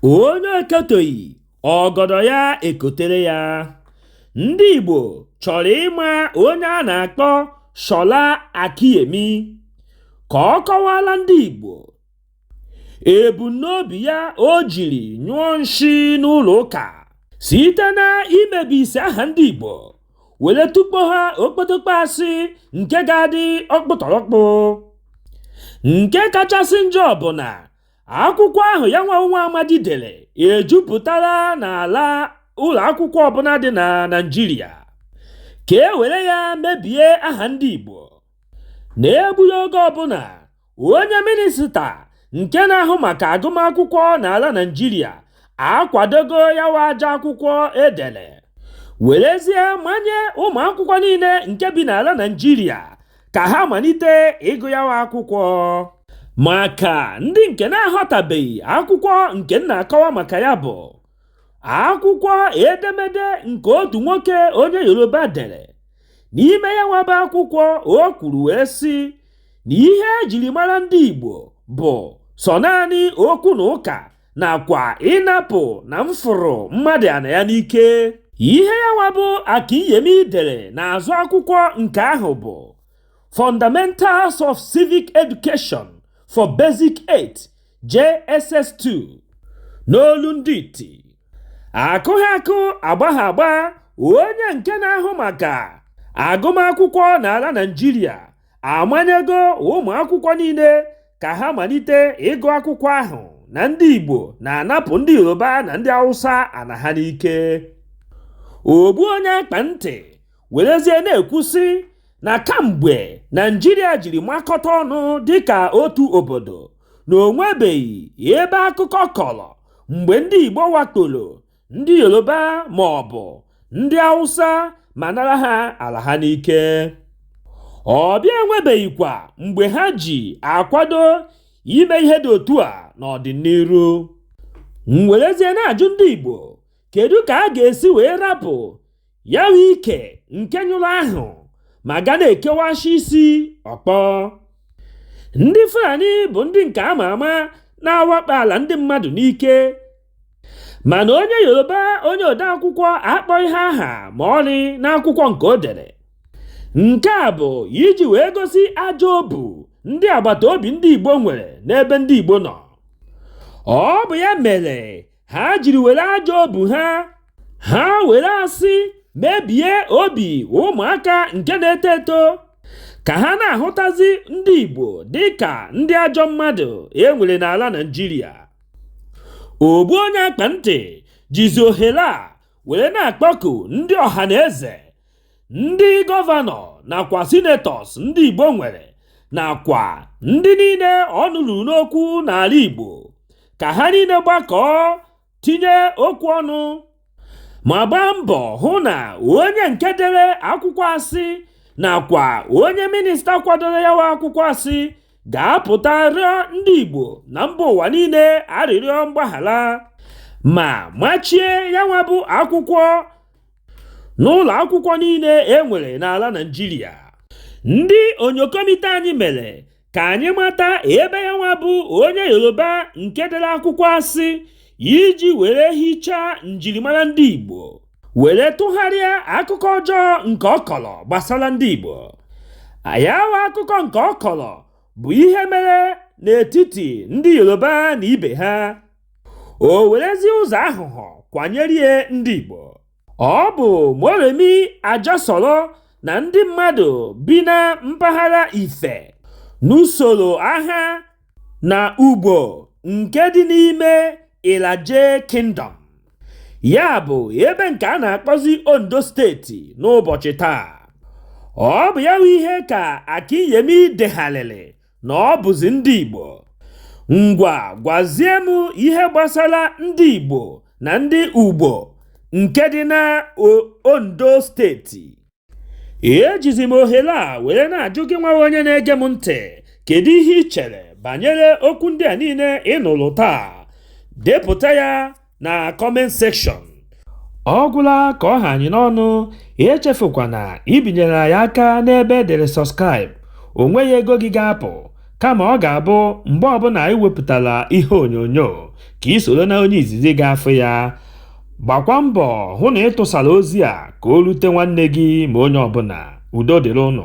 onye ekoteghị ọgọdọ ya ekotere ya ndị Igbo chọrọ ịma onye a na-akpọ Shola Akinyemi ka ọ kọwaala ndị Igbo ebumnobi ya o jiri nyụọ nshi n'ụlọ ụka site na imebisi aha ndị Igbo were tukpo ha okpotokpo asị nke ga-adị ọkpụtọrọkpụ nke kachasị njọ bụ na akwụkwọ ahụ ya nwa bụ nwa amadi dere ejupụtala n'ala ụlọ akwụkwọ ọbụla dị na Naịjirịa ka e were ya mebie aha ndị Igbo N'egbughị oge ọbụla, onye minista nke na-ahụ maka agụmakwụkwọ n'ala Naịjirịa akwadogo ya bụ ajọ akwụkwọ e dere, werezie manye ụmụakwụkwọ niile nke bi n'ala Naịjirịa ka ha malite ịgụ ya bụ akwụkwọ. Maka ndị nke na-aghọtabeghị akwụkwọ nke m na-akọwa maka ya bụ. akwụkwọ edemede nke otu nwoke onye yoruba dere n'ime ya nwa bụ akwụkwọ o kwuru wee sị na ihe ejiri mara ndị igbo bụ sọ naanị okwu na ụka nakwa ịnapụ na mfụrụ mmadụ ana ya n'ike ihe ya nwa bụ akinyemi dere n'azụ akwụkwọ nke ahụ bụ fundamentals of civic education for basic 8 JSS2 n'olu ndị iti akụghị akụ agbaghị agba onye nke na-ahụ maka agụmakwụkwọ n'ala Naịjirịa amanyego ụmụ akwụkwọ niile ka ha malite ịgụ akwụkwọ ahụ na ndị Igbo na-anapụ ndị Yoruba na ndị Hausa ana ha n'ike ogbu onye akpa ntị werezie na-ekwu sị na kamgbe Naịjirịa jiri makọta ọnụ dịka otu obodo na o nwebeghị ebe akụkọ kọrọ mgbe ndị Igbo wakporo ndị Yoruba ma ọ bụ ndị Hausa ma nara ha ala ha n'ike. Ọ bịa enwebeghịkwa mgbe ha ji akwado ime ihe dị otu a n'ọdịnihu. M werezie na-ajụ ndị Igbo, kedu ka a ga-esi wee rapụ ya nwa ike nke nyụrụ ahụ ma ga na-ekewashi isi ọkpọ ndị Fulani bụ ndị nke ama ama na-awakpo ala ndị mmadụ n'ike mana onye Yoruba onye odeakwụkwọ akpọghị ha aha ma ọlị n'akwụkwọ nke o dere nke a bụ iji wee gosi ajọ obu ndị agbata obi ndị Igbo nwere n'ebe ndị Igbo nọ ọ bụ ya mere ha jiri were ajọ obu ha ha were asị mebie obi ụmụaka nke na-eto eto ka ha na-ahụtazi ndị Igbo dị ka ndị ajọ mmadụ e nwere n'ala Naịjirịa ogbu onye akpa ntị jizi ohere a were na-akpọku ndị ọha na eze ndị gọvanọ nakwa sinetọs ndị Igbo nwere nakwa ndị niile ọnụ ruru n'okwu n'ala Igbo ka ha niile gbakọọ tinye okwu ọnụ ma gbaa mbọ hụ na onye nke dere akwụkwọ asị nakwa onye minista kwadoro ya wa akwụkwọ asị ga-apụta rịọ ndị Igbo na mba ụwa niile arịrịọ mgbaghara ma machie ya nwa bụ akwụkwọ n'ụlọ akwụkwọ niile e nwere n'ala Naịjirịa ndị onyokomite anyị mere ka anyị mata ebe ya nwa bụ onye Yoruba nke dere akwụkwọ asị iji were hichaa njirimara ndị Igbo were tụgharịa akụkọ ọjọọ nke ọ kọrọ gbasara ndị Igbo ya wa akụkọ nke ọ kọrọ bụ ihe mere n'etiti ndị Yoruba na ibe ha o werezi ụzọ aghụghọ kwanyere ya ndị Igbo ọ bụ Moremi Ajasoro na ndị mmadụ bi na mpaghara Ife nụsoro agha na Ugbo nke dị n'ime Ilaje Kingdom ya bụ ebe nke a na-akpọzi Ondo steeti n'ụbọchị taa ọ bụ ya bụ ihe ka Akinyemi degharịrị na ọ bụzi ndị Igbo ngwa gwazie m ihe gbasara ndị Igbo na ndị Ugbo nke dị na Ondo steeti ejizi m ohere a were na-ajụ gị nwa onye na-ege m ntị kedu ihe ị chere banyere okwu ndị a niile ị nụrụ taa depụta ya na comment section ọ gwụla ka ọ ha anyị n'ọnụ echefukwana ibinyere anyị aka n'ebe e dere subscribe o nweghị ego gị ga-apụ kama ọ ga-abụ mgbe ọbụla anyị wepụtara ihe onyonyo ka ị soro na onye izizi ga-afụ ya gbakwa mbọ hụ na ị tụsara ozi a ka o rute nwanne gị ma onye ọbụla udo dịrị ụnụ